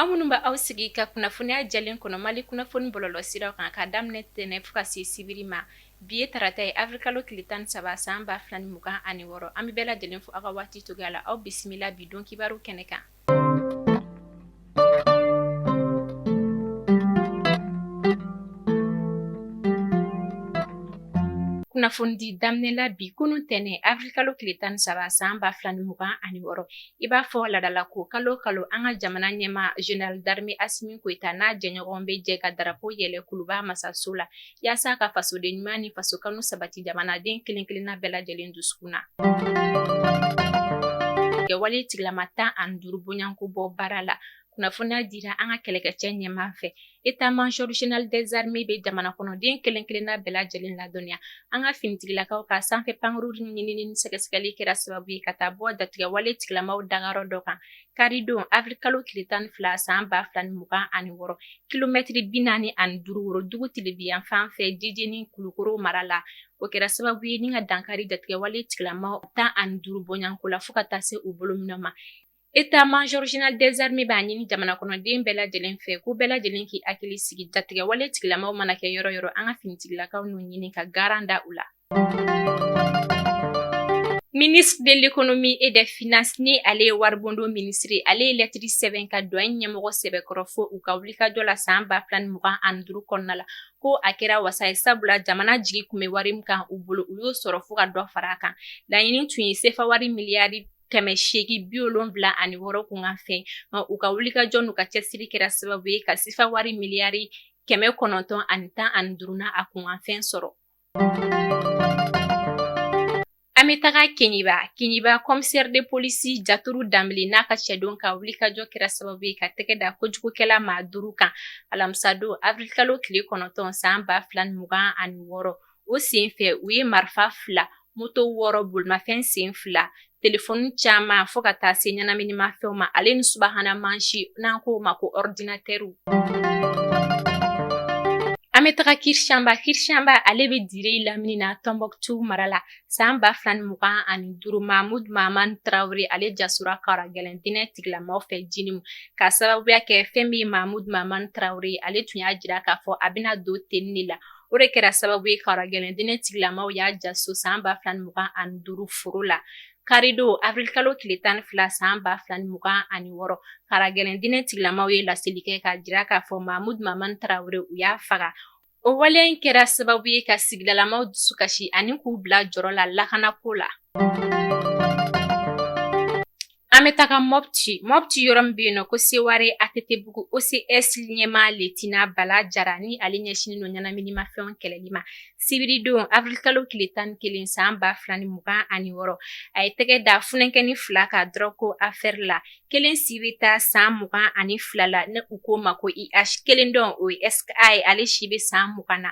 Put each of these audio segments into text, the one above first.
Aw minnu bɛ aw sigi ka kunnafoniya jɛlen kɔnɔ mali kunnafoni bɔlɔlɔ siraw kan ka daminɛ tɛnɛn fo ka se sibiri ma bi ye tarata ye avril kalo tile tan ni saba san ba fila ni mugan ani wɔɔrɔ an bɛ bɛɛ lajɛlen fo aw ka waati cogoya la aw bisimila bi don kibaru kɛnɛ kan Kunnafoni di daminɛ la bi kunun ntɛnɛn avril kalo tile tan ni saba san ba fila ni mugan ani wɔɔrɔ i b'a fɔ ladala ko kalo kalo an ka jamana ɲɛmaa général d'armée Asimi Goyita n'a jɛɲɔgɔn bɛ jɛ ka darapo yɛlɛ kuluba masaso la. yaasa ka fasoden ɲuman ni faso kanu sabati jamanaden kelen-kelenna bɛɛ lajɛlen dusukun na. Kɛwale tigilama tan ani duuru bɔɲɔgɔnko bɔ baara la kunnafoniya dira an ka kɛlɛkɛcɛ ɲɛmaa fɛ état-major général des armées bɛ jamana kɔnɔden kelen kelenna bɛɛ lajɛlen ladɔnniya an ka finitigilakaw ka sanfɛ pankurun ɲinini ni sɛgɛsɛgɛli kɛra sababu ye ka taa bɔ jatigɛwale tigilamaw dagayɔrɔ dɔ kan Karidon avril kalo tile tan ni fila san ba fila ni mugan ani wɔɔrɔ kilomɛtiri bi naani ani duuru worodugu tilebinyanfan fɛ jijeni kulukoro mara la o kɛra sababu ye ni ka dankari jatigɛwale tigilamaw tan ani duuru bɔɲɔgɔnko la fo ka taa se u bolominɛn ma état-major général des armées b'a ɲini jamana kɔnɔden bɛɛ lajɛlen fɛ ko bɛɛ lajɛlen k'i hakili sigi jatigɛwale tigilamaw mana kɛ yɔrɔ yɔrɔ an ka finitigilakaw n'u ɲini ka garan da u la Ministre de l'économie et des finances ni ale ye waribondon ministre ye, ale ye lɛtiri sɛbɛn ka douane ɲɛmɔgɔ sɛbɛkɔrɔ fo u ka wulikajɔ la san ba fila ni mugan ani duuru kɔnɔna la ko a kɛra wasa ye sabula jamana jigi kun bɛ wari min kan u bolo u y'o sɔrɔ fo ka dɔ fara a kan laɲini tun ye sefa wari miliyari kɛmɛ seegi bi wolonwula ani wɔɔrɔ kunkanfɛn u ka wulikajɔ n'u ka cɛsiri kɛra sababu ye ka sefa wari miliyari kɛmɛ kɔnɔntɔn ani tan ani duuru n'a kunkanfɛn sɔrɔ An bɛ taga Keɲeba, Keɲeba commissaire de police Jaturu Danbele n'a ka cɛden ka wulikajɔ kɛra sababu ye ka tɛgɛ da kojugukɛla maa duuru kan alamisadon avril kalo tile kɔnɔntɔn san ba fila ni mugan ani wɔɔrɔ, o senfɛ u ye marifa fila, moto wɔɔrɔ, bolimafɛn sen fila telefɔni caman fo ka taa se ɲɛnaminimafɛnw ma ale ni subahana mansin n'an k'o ma ko ɔridinatɛriw an bɛ taga Kirchamba Kirchamba ale bɛ dire lamini na tɔnbɔkutu mara la san ba fila ni mugan ani duuru mahmud mahaman tarawele ale jasora kara gɛlɛn dinɛ tigilamaw fɛ jinimu ka sababuya kɛ fɛn min ye mahmud mahaman tarawele ale tun y'a jira k'a fɔ a bɛna don tenni de la O de kɛra sababu ye karagɛlɛn diinɛ tigilamaw y'a ja so san ba fila ni mugan ani duuru foro la karidon avril kalo tile tan ni fila san ba fila ni mugan ani wɔɔrɔ karagɛlɛn diinɛ tigilamaw ye laseli kɛ k'a jira k'a fɔ Mahmud Maman Tarawele u y'a faga o waleya in kɛra sababu ye ka sigidalamaw dusu kasi ani k'u bila jɔrɔ la lakanako la An bɛ taga Mopti, Mopti yɔrɔ min bɛ yen n'u ko Seware ATT bugu, OCS ɲɛmaa Lieutenant Bala Jara ni ale ɲɛsinnen don ɲɛnaminimafɛnw kɛlɛli ma, sibiridon avril kalo tile 11 san 2026, a ye tɛgɛ da funankɛnin fila kan drogue ko affaire la, kelen si bɛ taa san 22 la ni u k'o ma ko IH, kelen dɔ in o ye SK ye ale si bɛ san 20 na.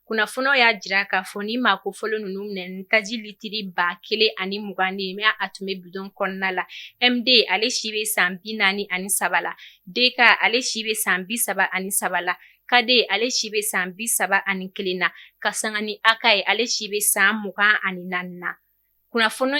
Kunnafoniw y'a jira k'a fɔ nin maa kofɔlen ninnu minɛna ni taji litiri ba kelen ani mugan de ye mais a tun bɛ bidon kɔnɔna la MD ale si bɛ san bi naani ani saba la DK ale si bɛ san bi saba ani saba la KD ale si bɛ san bi saba ani kelen na ka sanga ni AK ye ale si bɛ san mugan ani naani na kunnafoni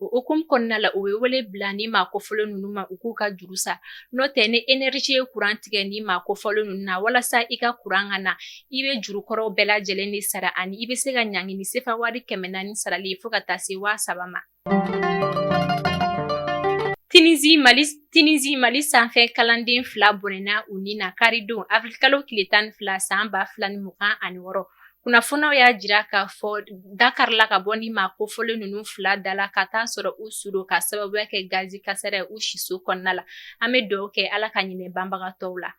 O hukumu kɔnɔna la u bɛ wele bila nin maa kofɔlen ninnu ma u k'u ka juru sara n'o tɛ ni énergie ye courant tigɛ nin maa kofɔlen ninnu na walasa i ka courant ka na i bɛ juru kɔrɔw bɛɛ lajɛlen de sara ani i bɛ se ka ɲangi ni sefa wari kɛmɛ naani sarali ye fo ka taa se waa saba ma. Tunisie Tunisie Mali sanfɛ kalanden fila bɔnɛna u ni na karidon avril kalo tile tan ni fila san ba fila ni mugan ani wɔɔrɔ kunnafoniw y'a jira k'a fɔ da karila ka bɔ nin maa kofɔlen ninnu fila da la ka taa sɔrɔ u su don ka sababuya kɛ gazi kasara ye u siso kɔnɔna la an bɛ dugawu kɛ ala ka hinɛ banbagatɔw la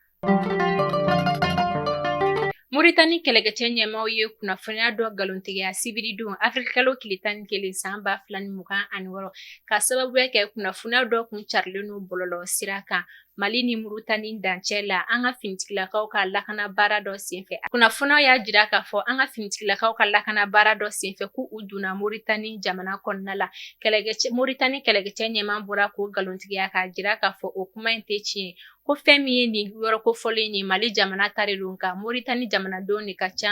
moritani kɛlɛkɛcɛ ɲɛmaaw ye kunnafoniya dɔ nkalontigiya sibiridon avril kalo tile tan ni kelen san ba fila ni mugan ani wɔɔrɔ ka sababuya kɛ kunnafoniya dɔ kun carilen don bɔlɔlɔ sira kan Mali ni Moritani dancɛ la an ka finitigilakaw ka lakana baara dɔ senfɛ kunnafoniw y'a jira k'a fɔ an ka finitigilakaw ka lakana baara dɔ senfɛ k'u donna Moritani jamana kɔnɔna la kɛlɛ Moritani kɛlɛkɛcɛ ɲɛmaa bɔra k'o nkalontigiya k'a jira k'a fɔ o kuma in tɛ tiɲɛ ko fɛn min ye nin yɔrɔ kofɔlen ye mali jamana ta de don nka Moritani jamanadenw de ka ca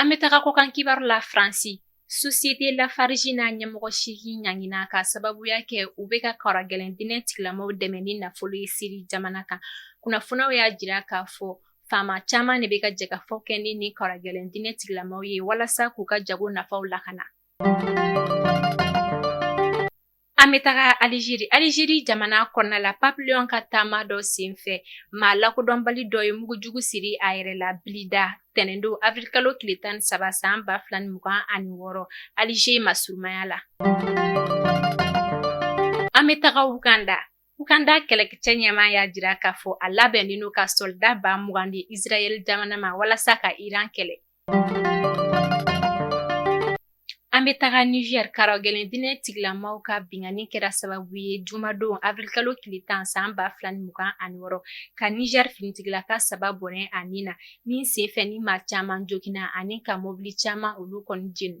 An bɛ taga kɔkan kibaru la Faransi. Société Lafarge n'a ɲɛmɔgɔ seegin ɲangina k'a sababuya kɛ u bɛ ka karagɛlɛn diinɛ tigilamaw dɛmɛ ni nafolo ye Siri jamana kan. Kunnafoniyaw y'a jira k'a fɔ faama caman de bɛ ka jɛkafɔ kɛ ni nin karagɛlɛn diinɛ tigilamaw ye walasa k'u ka jago nafaw lakana. An bɛ taga Alizeri, Alizeri jamana kɔnɔna la Pape Léon ka taama dɔ senfɛ maa lakodɔnbali dɔ ye mugujugu siri a yɛrɛ la Blida tɛnɛndon avril kalo tile 13 san 2026 Alize masurunmaya la. An bɛ taga Uganda. Uganda kɛlɛkɛcɛ ɲɛmaa y'a jira k'a fɔ a labɛnnen don ka sɔlida ba mugan di isirayɛli jamana ma walasa ka iran kɛlɛ an bɛ taga nizɛri karagɛlɛn diinɛ tigilamaw ka binkanni kɛra sababu ye jumadon awirilikalo tile tan san ba fila ni mugan ani wɔɔrɔ ka nizɛri finitigilaka saba bɔnɛ a ni na min senfɛ ni maa caman joginna ani ka mɔbili caman olu kɔni jeni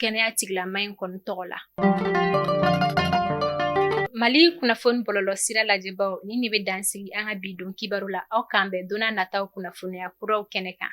kɛnɛya tigilama in kɔni tɔgɔ la mali kunnafoni bɔlɔlɔ sira lajɛbaw ni ne bɛ dansigi an ka bi don kibaru la aw k'an bɛn donna nataw kunnafoniya kuraw kɛnɛ kan